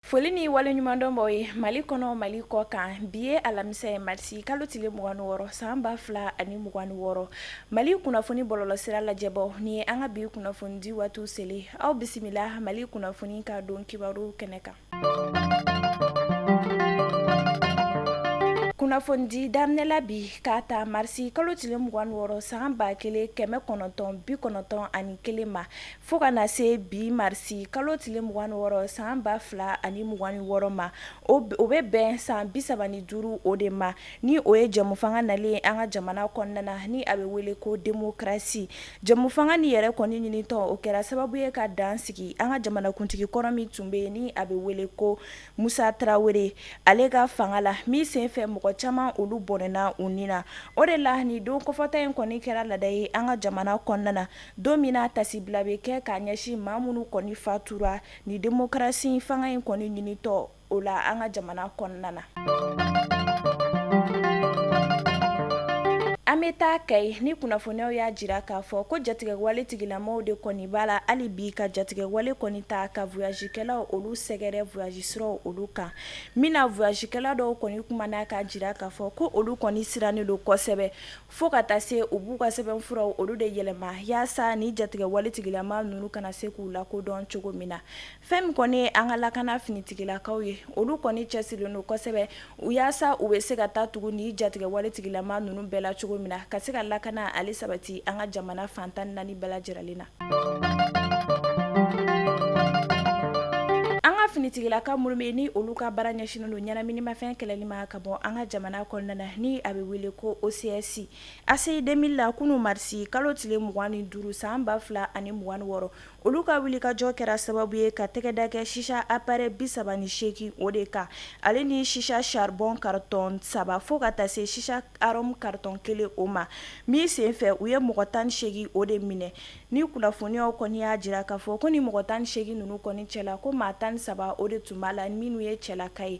foli ni waleɲumandɔn b'aw ye mali kɔnɔ mali kɔkan bi ye alamisa ye marisi kalo tile mugani wɔɔrɔ san ba fila ani mugani wɔɔrɔ mali kunnafoni bɔlɔlɔsira lajɛbaaw ni ye an ka bi kunnafoni di waatiw selen aw bisimila mali kunnafoni ka don kibaru kɛnɛ kan kunnafoni daminɛla bi k'a ta marisi kalo tile mugan wɔɔrɔ san ba kelen kɛmɛ kɔnɔntɔn bi kɔnɔntɔn ani kelen ma fo ka na se bi marisi kalo tile mugan wɔɔrɔ san ba fila ani mugan wɔɔrɔ ma o bɛ bɛn san bisaba ni duuru o de ma Ni o ye jɛmufanga nalen an ka jamana kɔnɔna na ni a bɛ wele ko demokarasi jɛmufanga ni yɛrɛ kɔni ɲinitɔ o kɛra sababu ye ka dan sigi an ka jamanakuntigi kɔrɔ min tun bɛ yen ni a bɛ wele ko musa tarawele ale ka fanga la min senfɛ mɔgɔ caman olu bɔnɛna u ni na o de la ni don kɔfɔta in kɔni kɛra laada ye an ka jamana kɔnɔna na don min na taasibila bɛ kɛ k'a ɲɛsin maa minnu kɔni fatura ni demokarasi fanga in kɔni ɲinitɔ o la an ka jamana kɔnɔna na an bɛ taa kayi ni kunnafoniw y'a jira k'a fɔ ko jatigɛwale tigilamaw de kɔni b'a la hali bi ka jatigɛwale kɔni ta ka voyajikɛlaw olu sɛgɛrɛ voyaji siraw olu kan min na voyajikɛla dɔw kɔni kumana k'a jira k'a fɔ ko olu kɔni sirannen don kosɛbɛ fo ka taa se u b'u ka sɛbɛnfuraw olu de yɛlɛma yaasa ni jatigɛwale tigilama ninnu kana se k'u lakodɔn cogo min na Fɛn min kɔni ye an ka lakana finitigilakaw ye olu kɔni cɛsirilen don kosɛbɛ u yaasa u bɛ se ka taa tugu ni jatigɛwale tigilama ninnu bɛɛ la cogo min na ka se ka lakana ale sabati an ka jamana fan tan ni naani bɛɛ lajɛlen na an ka finitigilaka minnu bɛ ni olu ka baara ɲɛsinnen don ɲɛnaminimafɛn kɛlɛli ma ka bɔ an ka jamana kɔnɔna na ni a bɛ wele ko OCS ACI demili la kunun marisi kalo tile mugan ni duuru san ba fila ani mugan wɔɔrɔ Olu ka wulikajɔ kɛra sababu ye ka tɛgɛda kɛ shisha aparɛyi bisaba ni seegin o de kan ale ni shisha saribɔn karitɔn saba fo ka taa se shisha arɔmu karitɔn kelen o ma min senfɛ u ye mɔgɔ tan ni seegin o de minɛ ni kunnafoniyaw kɔni y'a jira k'a fɔ ko ni mɔgɔ tan seegin ninnu kɔni cɛ la ko maa tan saba o de tun b'a la minnu ye cɛlaka ye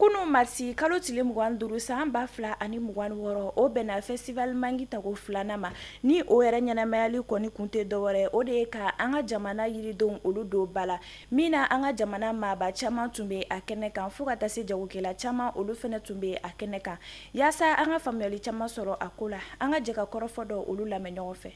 Kunun marisi kalo tile mugan duuru san ba fila ani mugan wɔɔrɔ o bɛnna fɛsitivali mangi tako filanan ma ni o yɛrɛ ɲɛnamayali kɔni kun tɛ dɔwɛrɛ o de ye ka an ka jamana yiridenw olu don ba la min na an ka jamana maaba caman tun bɛ a kɛnɛ kan fo ka taa se jagokɛla caman olu fana tun bɛ a kɛnɛ kan yaasa an ka faamuyayali caman sɔrɔ a ko la an ka jɛ ka kɔrɔfɔ dɔ olu lamɛn ɲɔgɔn fɛ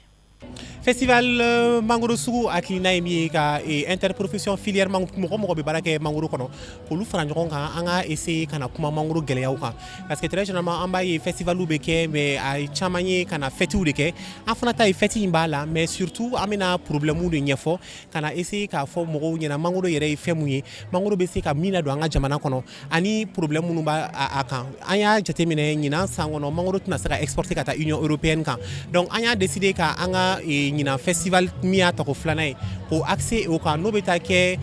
festival euh, mangoro sugu hakilina ye min ye ka eh, interprofession filière mɔgɔ mɔgɔ bɛ baara kɛ mangoro kɔnɔ k'olu fara ɲɔgɔn kan an ka essayer ka na kuma mangoro gɛlɛyaw kan parce que très généralement an b'a ye festivaliw bɛ kɛ mais a caman ye ka na fɛtiw de kɛ an fana ta ye fɛti in b'a la mais surtout an bɛna problèmew de ɲɛfɔ ka na essayer k'a fɔ mɔgɔw ɲɛna mangoro yɛrɛ ye fɛn mun ye mangoro bɛ se ka min ladon an ka jamana kɔnɔ Ani problème minnu b'a kan an y'a jateminɛ ɲinan san kɔnɔ mangoro tɛna se ka exporter ka taa Union européenne kan donc an y'a décider ka an ka ɲinan festival min y'a tako filanan ye k'o axer o kan n'o bɛ taa kɛ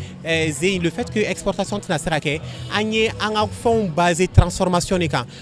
le fait que exportation tɛna se ka kɛ an ye an ka fɛnw baser transformation de kan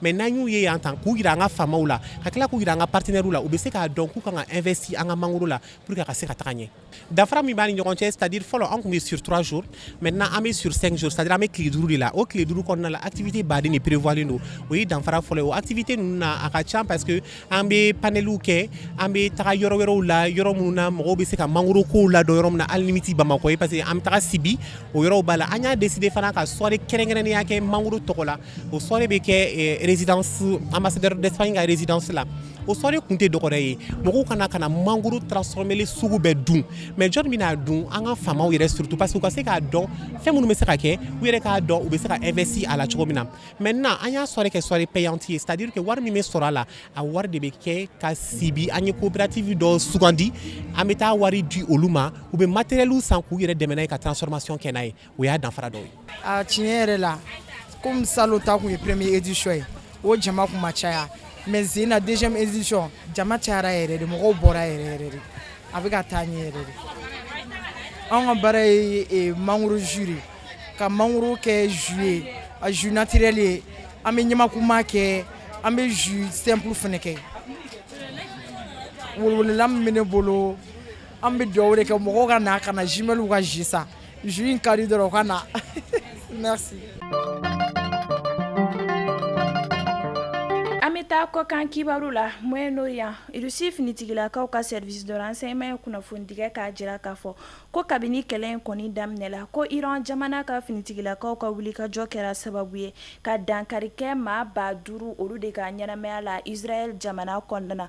mais n'an y'u ye yan tan k'u jira an ka faamaw la ka tila k'u jira an ka partenairew la u bɛ se k'a dɔn k'u kan ka investir an ka mangoro la pour que a ka se ka taga ɲɛ danfara min b'a ni ɲɔgɔn cɛ c'est-à-dire fɔlɔ an tun bɛ sur trois jours maintenant an bɛ sur cinq jours c'est-à-dire an bɛ tile duuru de la o tile duuru kɔnɔna la activité baden de prévoirlen don o ye danfara fɔlɔ ye o activité ninnu na a ka ca parce que an bɛ paneliw kɛ an bɛ taga yɔrɔ wɛrɛw la yɔrɔ minnu na mɔgɔw bɛ se ka mangoro ko ladɔn yɔrɔ min na hali min tɛ Bamakɔ ye parce que an bɛ taga sibi o yɔrɔ b'a la an y'a décider fana ka soirée kɛrɛnkɛrɛnnenya kɛ mangoro tɔgɔ la O soirée bɛ kɛ résidence ambassadeur d'Espagne ka résidence la o soirée kun tɛ dɔgɔrɛ ye mɔgɔw ka na ka na mangoro transformélen sugu bɛɛ dun mais jɔn bɛna a dun an ka faamaw yɛrɛ surtout parce que u ka se k'a dɔn fɛn minnu bɛ se ka kɛ u yɛrɛ k'a dɔn u bɛ se ka investir a la cogo min na maintenant an y'a soirée kɛ soirée payante ye c'est-à-dire que wari min bɛ sɔrɔ a la a wari de bɛ kɛ ka sibi an ye coopérative dɔ sugandi an bɛ taa wari di olu ma u bɛ matérielw san k'u yɛrɛ dɛmɛ n'a ye ka transformation kɛ n'a ye o y'a danfara dɔ ye a tiɲɛ yɛrɛ la komi salon ta tun ye première édition ye o jama tun ma caya mais ɲinan deuxième édition jama cayara yɛrɛ de mɔgɔw bɔra yɛrɛ yɛrɛ de a bɛ ka taa ɲɛ yɛrɛ de anw ka baara ye eh, mangoro jus de ye ka mangoro kɛ jus ye a jus naturel ye an bɛ ɲamakuma kɛ an bɛ jus simple fana kɛ weleweleda min bɛ ne bolo an bɛ dugawu de kɛ mɔgɔw ka na ka na jimɛliw ka jus san Jus in ka di dɔrɔn u ka na an bɛ taa kɔkan kibaru la Moyen-Orient Russie finitigilakaw ka service de renseignement ye kunnafonidi kɛ k'a jira k'a fɔ ko kabini kɛlɛ in kɔni daminɛ la ko iran jamana ka finitigilakaw ka wulikajɔ kɛra sababu ye ka dankari kɛ maa ba duuru olu de ka ɲɛnamaya la Israël jamana kɔnɔna na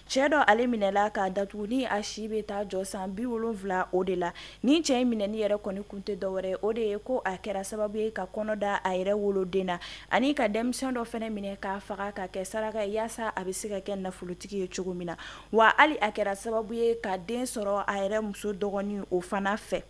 Cɛ dɔ ale minɛla k'a datugu ni a si bɛ taa jɔ san bi wolonwula o de la ni cɛ in minɛni yɛrɛ kɔni kun tɛ dɔwɛrɛ o de ye ko a kɛra sababu ye ka kɔnɔ da a yɛrɛ woloden na ani ka denmisɛn dɔ fɛnɛ minɛ k'a faga ka kɛ saraka ye yaasa a bɛ se ka kɛ nafolotigi ye cogo min na wa hali a kɛra sababu ye ka den sɔrɔ a yɛrɛ muso dɔgɔnin o fana fɛ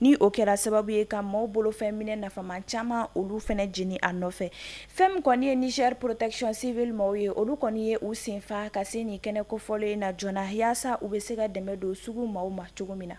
ni o kɛra sababu ye ka maaw bolofɛn minɛ nafama caman olu fɛnɛ jeni a nɔfɛ fɛn min kɔni ye Niger protection civile maaw ye olu kɔni ye u senfa ka se nin kɛnɛ kofɔlen in na joona yaasa u bɛ se ka dɛmɛ don sugu maaw ma cogo min na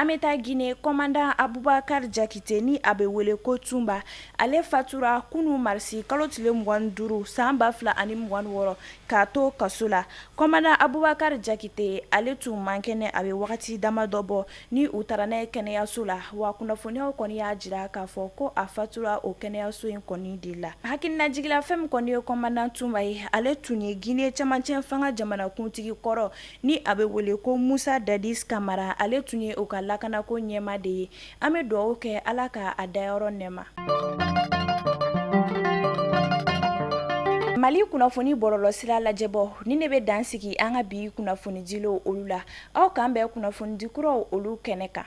an bɛ taa gine kɔmandan abubakari jakite ni a bɛ wele ko tunba ale fatura kunun marisi kalo tile mugan ni duuru san ba fila ani mugan ni wɔɔrɔ k'a to kaso la Kɔmandan abubakari jakite ale tun man kɛnɛ a bɛ wagati dama dɔ bɔ ni u taara n'a ye kɛnɛyaso la wa kunnafoniyaw kɔni y'a jira k'a fɔ ko a fatura o kɛnɛyaso in kɔni de la hakilinajigin la fɛn min kɔni ye kɔmandan tunba ye ale tun ye gine camancɛ fanga jamanakuntigi kɔrɔ ni a bɛ wele ko musa dadis kamara ale tun ye u ka lakanako ɲɛmaa de ye an bɛ dugawu kɛ ala ka a dayɔrɔ nɛɛma mali kunnafoni bɔlɔlɔsira lajɛbɔ ni ne bɛ dan sigi an ka bi kunnafonidilaw olu la aw k'an bɛn kunnafonidi kuraw olu kɛnɛ kan